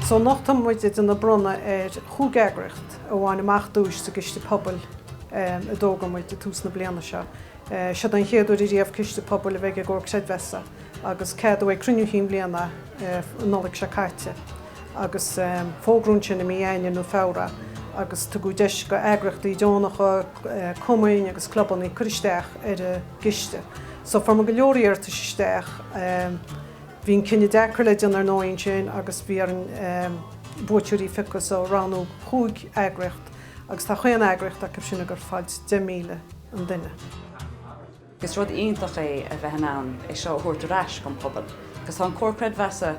So anocht tá muid ag déanamh bronnadh ar chúig eagraíocht a bhain amach duais sa gCiste Pobail a d'fhógair muid ag tús na bliana seo. Siod é an chéad uair ariamh Ciste Pobail a bheith ag an gComhar Creidmheasa agus ceadaíodh ag Cruinniú Chinn Bhliana an Nollaig seo caite agus fógraíodh ansin i mí Eanáir nó Feabhra agus tugadh deis go eagraíochtaí deonacha, cumainn agus clubanna cur isteach ar an gCiste. So fuair muid go leor iarratais isteach. Bhí an cinneadh deacair le déanamh ar ndóigh ansin agus bhí orainn buaiteoirí a phiocadh so roghnaíodh chúig eagraíocht agus tá chaon eagraíocht acu sin ag goil ag fáil deich míle an duine. Agus is rud iontach é a bheith in ann é seo a thabhairt ar ais gon pobal agus tá an Comhar Creidmheasa,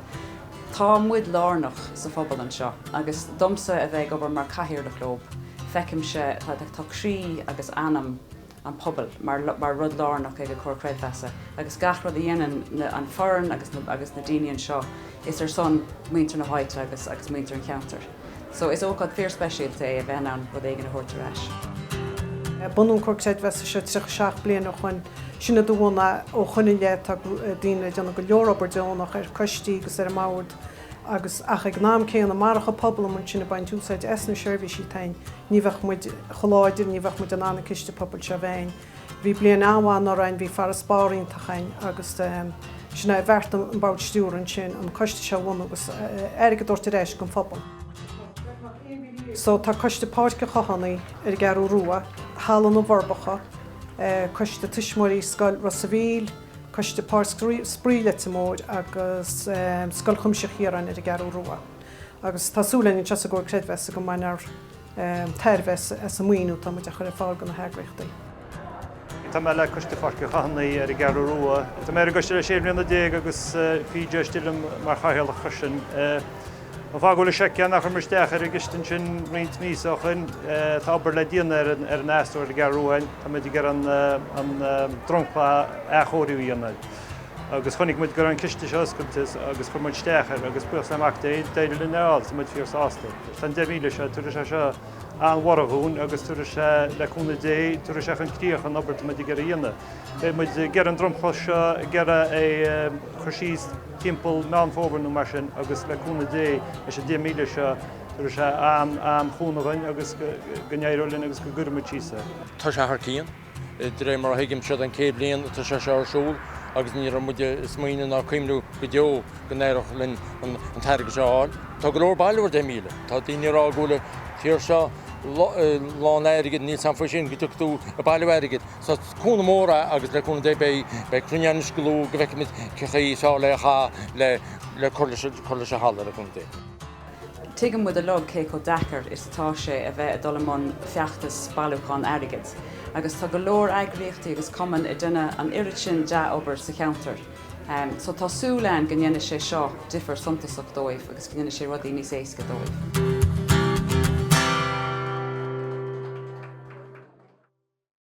tá muid lárnach sa phobal anseo agus domsa a bheith ag obair mar cathaoirleach leo feicimse tá croí agus anam, an pobal mar rud lárnach ag an Comhar Creidmheasa agus gach rud a dhéanann an foireann agus na daoine anseo is ar son muintir na háite agus muintir an cheantair so is ócáid fíorspeisialta é a bheith in ann rud éigin a thabhairt ar ais. Bunaíodh an Comhar Creidmheasa seo 37 bliain ó shoin, sin idir bhunadh, ó shoin i leith tá daoine ag déanamh go leor obair deonach ar coistí agus ar an mbord agus ach ag an am céanna marach an pobal amuigh ansin ag baint úsáid as na seirbhísí atá ainn ní bheadh muid chomh láidir, ní bheadh muid in ann an ciste pobail seo a bheith ainn. Bhí bliain an-mhaith anuraidh ainn, bhí farasbarr iontach ainn agus sin é a bheartaigh an bord stiúrtha ansin an coiste seo a bhunú agus airgead a thabhairt ar ais don phobal. So tá coiste Páirc an Chathánaigh ar an gCeathrú Rua, Halla na bhForbacha, coiste tuismitheoirí Scoil Ros an Mhíl, Coiste Páirc Spraoi Leitir Móir agus Scoil Chuimsitheach Chiaráin ar an gCeathrú Rua agus tá súil againn anseo sa gComhar Creidmheasa go mbainfear tairbhe as an maoiniú atá muid ag chur ar fáil do na heagraíochtaí. Tá mé le Coiste Pháirc an Chathánaigh ar an gCeathrú Rua. Tá mé ar an gcoiste le sé bhliana déag agus bhí deis liom mar chathaoirleach freisin. An fáth go bhfuil, sé an chaoi ar chuir muid isteach ar an gciste sin roinnt míosa ó shin? Tá obair le déanamh ar an astro ar an gCeathrú Rua ainn. Tá muid ag iarraidh an dromchla a athchóiriú a dhéanamh agus chonaic muid go raibh an ciste seo oscailte agus chuir muid isteach air agus buíochas le Mac Dé, d'éirigh linn é a fháil. Tá muid fíor sásta. Tá an deich míle seo, tabharfaidh sé seo an-bhorradh dhúinn agus tabharfaidh sé, le cúnamh Dé, tabharfaidh sé chun críoch an obair atá muid ag iarraidh a dhéanamh. Beidh muid ag iarraidh an dromchla seo, ag iarraidh é a chur síos, timpeall Meán Fómhair nó mar sin agus le cúnamh Dé leis an 10,000 seo tabharfaidh sé an-chúnamh dhúinn agus go n-éireoidh linn agus go gcuirfidh muid síos é. Tá sé thar cionn. De réir mar a thuigim, siod an céad bhliain atá sé seo ar siúl agus ní raibh muid ag smaoineamh ná ag cuimhneamh go deo go n-éireodh linn an t-airgead seo a fháil. Tá go leor bailiú ar 10,000. Tá daoine ag rá go bhfuil an tír seo lán airgid, níl a fhios agam faoi sin, go dtiocfaidh tú ag bailiú airgid. Is cúnamh mór agus le cúnamh Dé beidh cruinniú ann anois go luath go bhfeicfimid cé chaoi is fearr lena chaitheamh le le cur leis cur leis an halla le cúnamh Dé. Tuigeann muid a lug cé chomh deacair is atá sé a bheith a dul i mbun feachtas bailiúchán airgid agus tá go leor eagraíochtaí agus cumainn ag déanamh an oiread sin dea-obair sa cheantar so tá súil againn go ndéanfaidh sé seo difir suntasach dóibh agus go ndéanfaidh sé rudaí níos éasca dóibh.